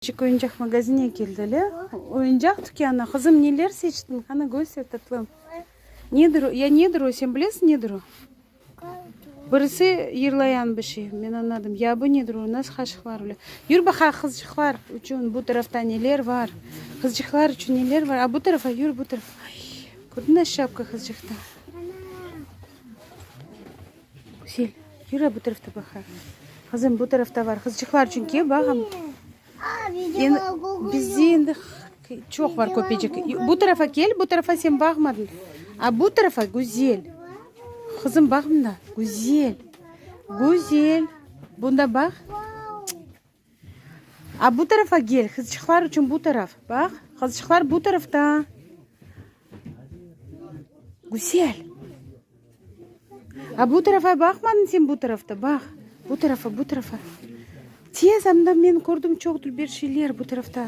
Küçük oyuncaq magazine keldiler. Oyuncaq tükânı. Qızım, neler seçtiñ? Qana, köster, tatlım. Nedir o? Ya nedir o? Sen bilesiñ, nedir o? Birisi yırlayan bir şey. Men añladım. Ya bu nedir o? Nasıl qaşıqlar bile? Yür baqay, qızcıqlar içün bu tarafta neler bar? Qızcıqlar içün neler bar? A, bu tarafa yür, bu tarafa. Ay, kördiñ, nasıl şapka qızcıqta? Güzel, yürü bu tarafta baqaq. Qızım, bu tarafta bar, qızçıqlar çünki, baq. Bizde endi çoq bar köpecik. Bu tarafa kel, bu tarafa sen baqmadın. A bu tarafa, güzel. Qızım, baq mında, güzel. Güzel, bunda baq. A, bu tarafa gel, qızçıqlar içün bu taraf. Baq, qızçıqlar bu tarafta. Güzel. A, bu tarafa baqmadın sen bu tarafta, baq. Bu tarafa, bu tarafa. Tez, anda men kördim çoq dülber şeyler bu tarafta.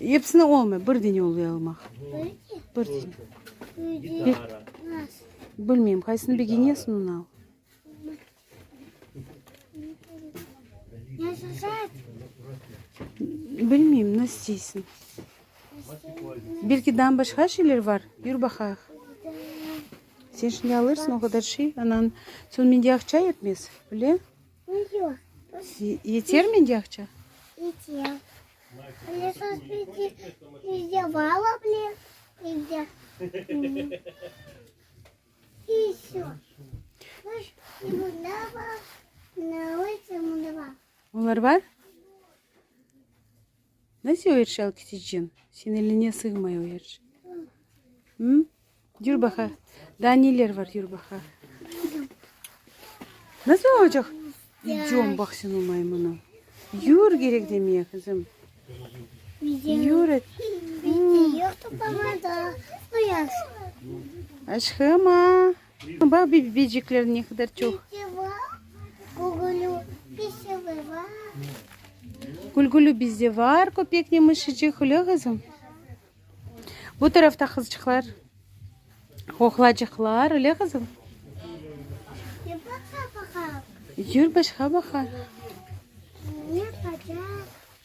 Epsini olmay, bir dene oluy almaq. Bir dene. Bilmeyim, qaysını begenesen, onı al. Bilmeyim, ne isteysin. Belki dan başqa şeyler var, yür baqayıq. Sen şimdi alırsın o kadar şey, anan, soñ mende aqça yetmez, bile? Yeter menge aqça? Yeter. Olar bar? Nasıl o yerş alkitiçin? Sen eline sığmay o yerş. Hı? Yür baqa. Daa neler var yür baqa. Nasıl olacaq? İdem baq sen o maymuna. Yür gerek demeye kızım. Yür et. Yoqtu bana da. Aşkıma. Baq, bibicikler ne qadar çoq. Gülgülü bizde var, köpek ne mışıcıq, öyle qızım? Bu tarafta qızçıqlar, oğlacıqlar, öyle qızım? Yür, başqa baqaq.